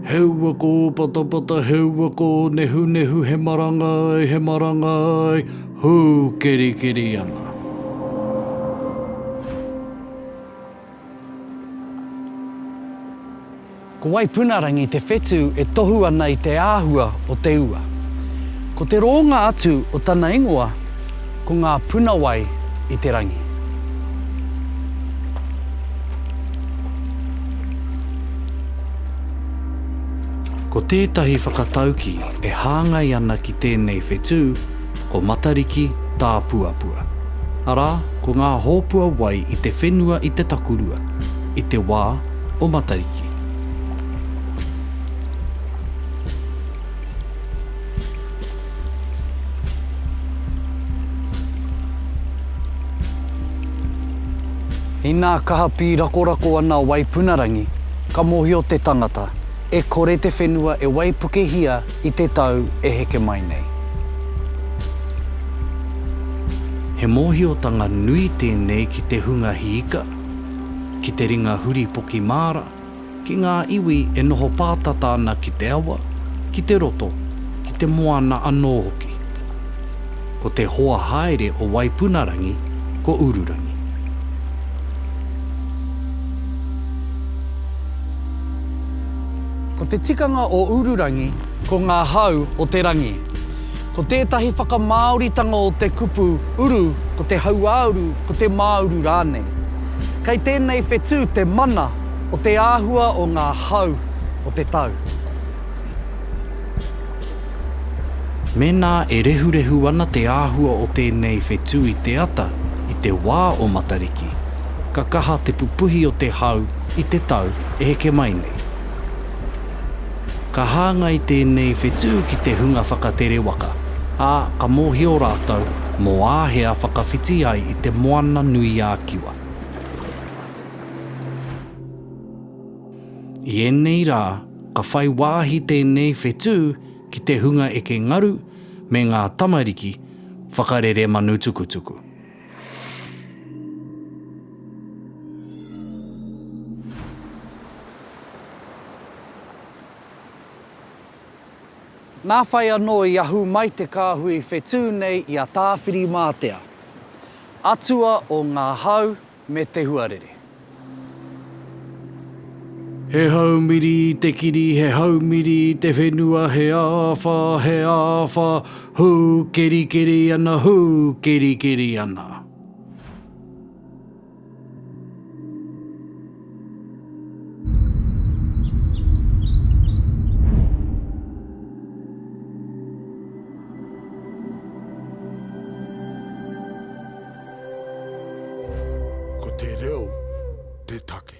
Heua kō patapata, heua kō nehunehu, he marangai, he marangai, hū kerikeri ana. Ko Waipunarangi te whetū e tohu ana i te āhua o te ua. Ko te rōnga atu o tana ingoa ko ngā puna wai i te rangi. Ko tētahi whakataukī e hāngai ana ki tēnei whetū, Ko Matariki tāpuapua. Arā, ko ngā hōpua wai i te whenua i te takurua, i te wā o Matariki. Inā kaha pīrakorako ana waipunarangi, ka mōhio te tangata, e kore te whenua e waipukehia I te tau e heke mai nei. He mōhiotanga nui tēnei ki te hunga hiika, ki te ringa huri poki māra, ki ngā iwi e noho pātata ana ki te awa, ki te roto, ki te moana anō hoki. Ko te hoa haere o Waipunarangi ko Ururangi. Ko te tikanga o Ururangi ko ngā hau o te rangi. Ko tētahi whakamāoritanga o te kupu uru ko te hauāuru, ko te māuru rānei. Kei tēnei whetū te mana o te āhua o ngā hau o te tau. Mēnā e rehurehu ana te āhua o tēnei whetū i te ata i te wā o Matariki, ka kaha te pupuhi o te hau i te tau e heke mai nei. Ka hāngai tēnei whetū ki te hunga whakatere waka, ā, ka mōhio rātou mō āhea whakawhiti ai i te Moana nui ā Kiwa. I ēnei rā, Ka whai wāhi tēnei whetū ki te hunga eke ngaru me ngā tamariki whakarere manutukutuku. Nā whai anō i ahu mai te kāhui whetū nei i a Tāwhirimātea, atua o ngā hau me te huarere. He haumiri i te kiri, he haumiri i te whenua, he āwha, he āwha, hū kerikeri ana, hū kerikeri ana. Ko te reo te take.